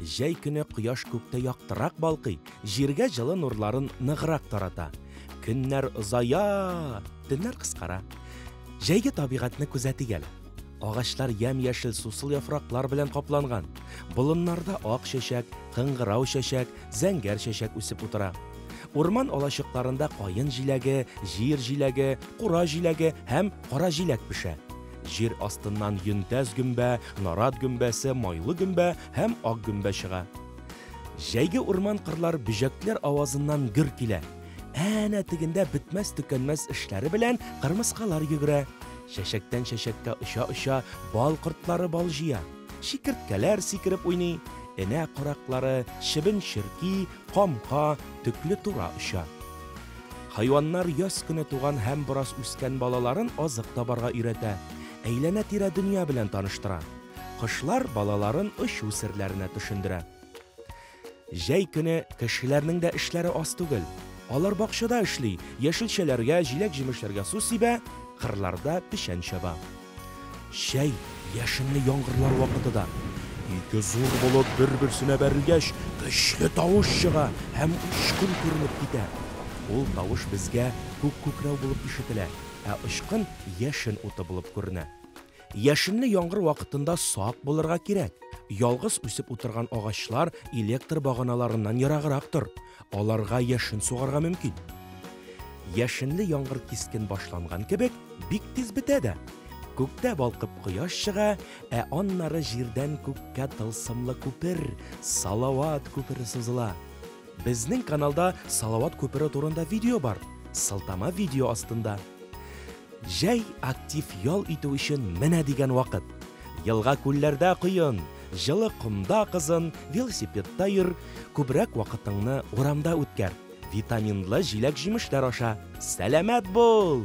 Җәй көне кояш күктә яктырак балкый, җиргә җылы нурларын ныграк тарата. Көннәр озая, төннәр кыскара. Җәйге табигатьне күзәтик әле. Агачлар ямь-яшел сусыл яфраклар белән капланган. Болыннарда ак чәчәк, кыңгырау чәчәк, зәңгәр чәчәк үсеп утыра. Урман алачыкларында каен җиләге, җир җиләге, кура җиләге һәм кара җиләк пешә. Җир астыннан йөнтәс гөмбә, нарат гөмбәсе, майлы гөмбә һәм ак гөмбә чыга. Җәйге урман-кырлар бөҗәкләр авазыннан гөр килә. Әнә тегендә бетмәс-төкәнмәс эшләре белән кырмыскалар йөгерә. Чәчәктән чәчәккә оча-оча бал кортлары бал җыя. Чикерткәләр сикереп уйный. Энә караклары, чебен-черки, камка, төкле тура оча. Хайваннар яз көне туган һәм бераз үскән балаларын азык табарга өйрәтә, әйләнә-тирә дөнья белән таныштыра. Кошлар балаларын очу серләренә төшендерә. Җәй көне кешеләрнең дә эшләре аз түгел. Алар бакчада эшли, яшелчәләргә, җиләк-җимешләргә су сибә, кырларда печән чаба. Чәй, яшенле яңгырлар вакыты да. Ике зур болыт бер-берсенә бәрелгәч, көчле тавыш чыга һәм очкын күренеп китә. Ул тавыш безгә күк күкрәү булып ишетелә, ә очкын яшен уты булып күренә. Яшенле яңгыр вакытында сак булырга кирәк. Ялгыз үсеп утырган агачлар электр баганаларыннан ераграк тор. Аларга яшен сугарга мөмкин. Яшенле яңгыр кискен башланган кебек, бик тиз бетә дә. Күктә балкып кояш чыга, ә аннары җирдән күккә тылсымлы күпер, Салават күпере сузыла. Безнең каналда Салават күпере турында видео бар, сылтама видео астында. Җәй актив ял итү өчен менә дигән вакыт! Елга-күлләрдә коен, җылы комда кызын, велосипедта йөр, күбрәк вакытыңны урамда үткәр, витаминлы җиләк-җимешләр аша, сәламәт бул!